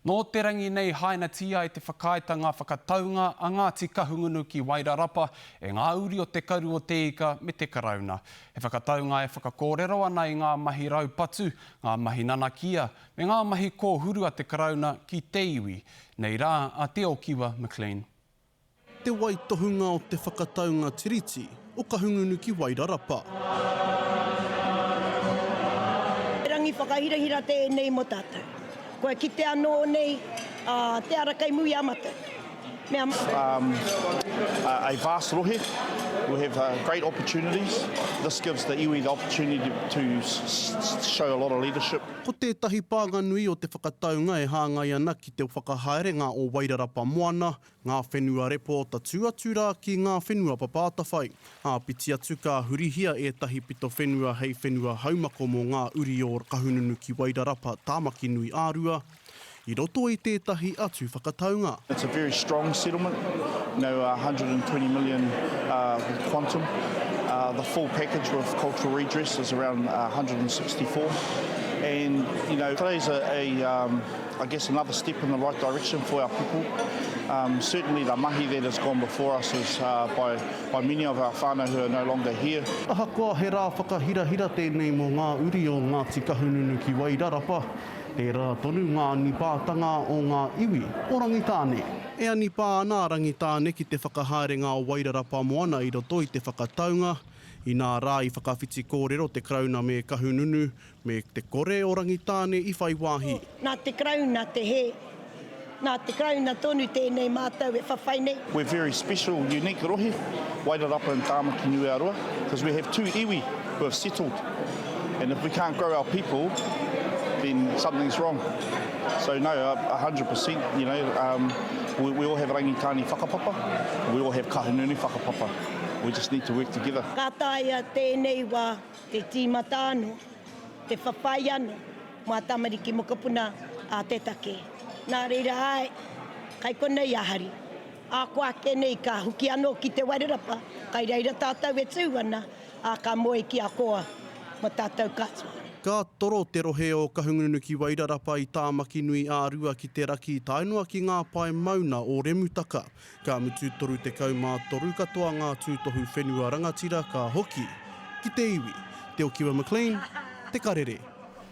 Nō te rangi nei hainatia ai te whakaaetanga whakataunga a Ngāti Kahungunu ki Wairarapa e ngā uri o Te Karu o Te Ika me te Karauna. He whakataunga e whakakōrero ana i ngā mahi raupatu, ngā mahi nanakia, me ngā mahi kōhuru a te Karauna ki te iwi. Nei rā a Te Okiwa McLean. Te waitohunga o te whakataunga Tiriti o Kahungunu ki Wairarapa. He rangi whakahirahira tēnei mō tātou. Kua kite anō nei te ara kei muri a matou. Mea matou. A vast rohe, we have great opportunities. This gives the iwi the opportunity to show a lot of leadership. Ko tētahi pānga nui o te whakataunga e hāngai ana ki. te whakahaerenga o Wairarapa Moana, ngā whenua repo tatū atu rā ki ngā whenua papa atawhai. Āpiti atu ka hurihia ētahi pito whenua hei whenua haumako mō ngā uri o Kahungunu ki Wairarapa, Tāmakinui a Rua, i roto i tētahi atu whakataunga. It's a very strong settlement, you know, 120 million quantum, the full package with cultural redress is around 164 and, you know, today's a, I guess another step in the right direction for our people. Um, certainly the mahi that has gone before us is uh, by, by many of our whānau who are no longer here. Ahakoa he rā whakahirahira tēnei mō ngā uri o Ngāti Kahungunu ki Wairarapa, tērā tonu ngā anipātanga o ngā iwi o Rangitāne. E anipā ana a Rangitāne ki te whakahaerenga o Wairarapa moana i roto i te whakataunga, inā rā i whakawhiti kōrero te Karauna me Kahungunu me te kore o Rangitāne i whai wāhi. Nā te Karauna te hē. Nā te Karauna tonu tēnei mātou e whawhai nei. We're very special, unique rohe, Wairarapa and Tāmaki Niu Aroa, because we have two iwi who have settled, and if we can't grow our people, then something's wrong. So no, a hundred per cent, you know, um, we, we all have Rangitāne whakapapa, we all have Kahungunu whakapapa, we just need to work together. Ka taea tēnei wā Te tīmata anō, te whawhai anō mā tamariki mokopuna a te take. Nā reira āe, kai konei a Hari. Ako ake nei ka hoki anō ki Te Wairarapa, kai reira tātou e tū ana, ā, ka moe ki a Koa mō tātou katoa. Ka toro te rohe o Kahungunu ki Wairarapa i Tāmakinui ā-rua ki te raki tae noa ki ngā pae mauna o Remutaka. Ka mutu 33 katoa ngā tūtohu whenua rangatira ka hoki ki te iwi, Te Okiwa McLean, Te Karere.